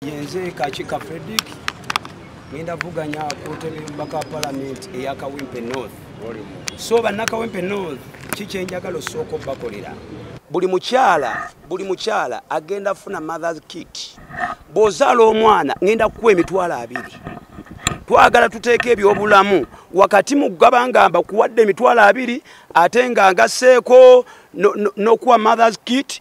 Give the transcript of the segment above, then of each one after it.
yenze kakika fredic ngenda vuganya kutebe baka palamenti eyakawempe north so bannakawempe north kikyenjagala osooka obakolera buli mukyala buli mukyala agenda funa mothers kit bwozaala omwana ngenda kukuwa emitwalo abiri twagala tuteeka ebyobulamu wakati mu kugaba nga mbakuwadde emitwalo abiri ate nga ngaseeko nokuwa mothers kit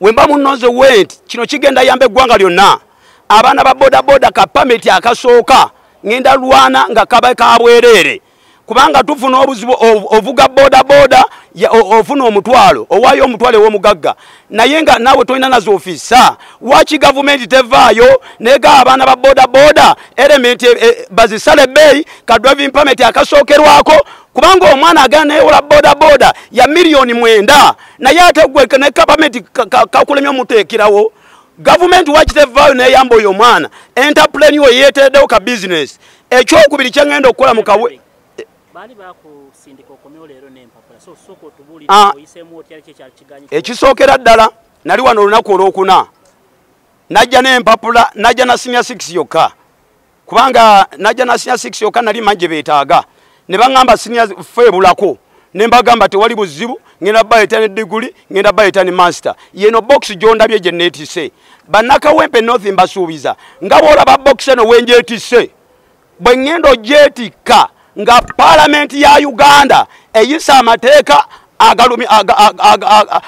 wemba munoze went kino kigenda yamba eggwanga lyonna abaana ba bodaboda ka pameti akasooka ngenda lwana nga kaba kabwereere kubanga tufuna obuzibu ovuga bodaboda ofuna omutwalo owayo omutwalo ewomugagga naye nga nawe tolina nazo ofisa waki gavumenti tevaayo nega abaana ba bodaboda elementi eh, eh, bazisale beyi ka driving pameti akasookerwako kubanga omwana agenda neyewola bodaboda ya miliyoni mwenda naye ate gwe ne gavumenti kakulemya omuteekerawo gavumenti wakitevaayo neyamba oyo omwana entapuleni oyo yeetereddewo ka bizinesi ekyokubiri kyengenda okukola mu kawe ah. ekisookera ddala nali wano olunaku olwokuna najja nempapula najja na sinia six yokka kubanga najja nasinya 6 yoka nali manje betaga ne bangamba sinya fe bulako ne mbagamba tewali buzibu ngenda baye tani degree ngenda baye tani master yeno box jonda bye je neti se banaka wempe north mbasubiza ngabo olaba box eno wenje ti se bwe ngendo jeti ka nga palamenti ya uganda eyisa amateeka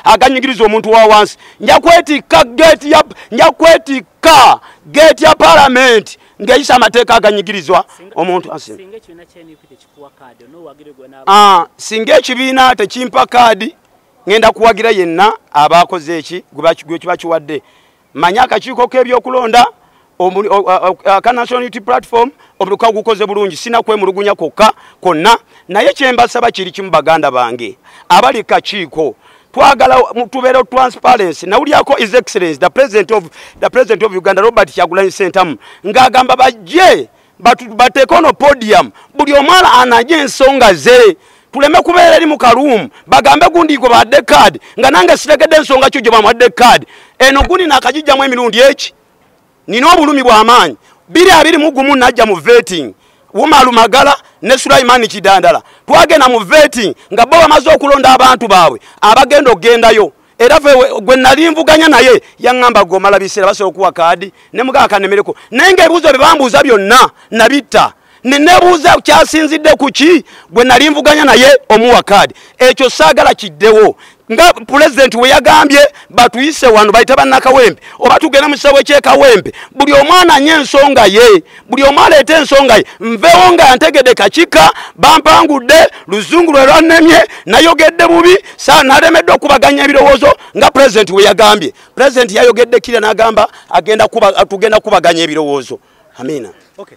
aganyigiriza omuntu wa wansi nja kwetikka geeti ya nja kwetikka geeti ya palamenti ng'eyisa amateeka aganyigirizwa omuntu ah, singa ekibiina tekimpa kaadi ŋenda kuwagira yenna abaakoze eki gwekiba kiwadde manya akakiiko k'ebyokulonda aka national unity platform omutuka gukoze bulungi sina kwemulugunya kwokka kwonna naye kyembasaba kiri kimu baganda bange abali kakiiko twagala tubeera transparency nawulyako is excellence the president of, the president of uganda robert kyagulanyi sentamu ng'agamba bajje bateeke ono podium buli omwala anaje ensonga ze tuleme kubeera eri mu kaluumu bagambe gundi gwe bawadde kaadi nga nange sitegedde ensonga kyo gye bamuwadde kaadi eno gundi nakagijjamu emirundi eki nina obulumi bw'amaanyi biri abiri mu gumu najja mu vetting wumalu magala ne sulaimani kidandala twagenda mu vetting nga bo bamaze okulonda abantu baabwe abagenda okugendayo era gwe nali nvuganya naye yaŋŋamba gwe omala biseera basobola okuwa kaadi ne mugaa kanemereko naye ngaebibuuzo bye bambuuza byonna nabitta nenebuuza kyasinzidde ku ki gwe nali nvuganya naye omuwa kaadi ekyo saagala kiddewo nga pulezidenti we yagambye batuyise wano bayita bannakawembe oba tugenda mu kisawo ekyekawembe buli omwana nye ensonga ye buli omu aleeta ensonga ye nvewo nga ntegede kakika bampangudde luzungu lwe lwannemye nayogedde bubi sa nalemeddwa okubaganya ebirowoozo nga pulezidenti we yagambye pulezidenti yayogedde kira n'agamba tugenda kubaganya ebirowoozo amiina okay.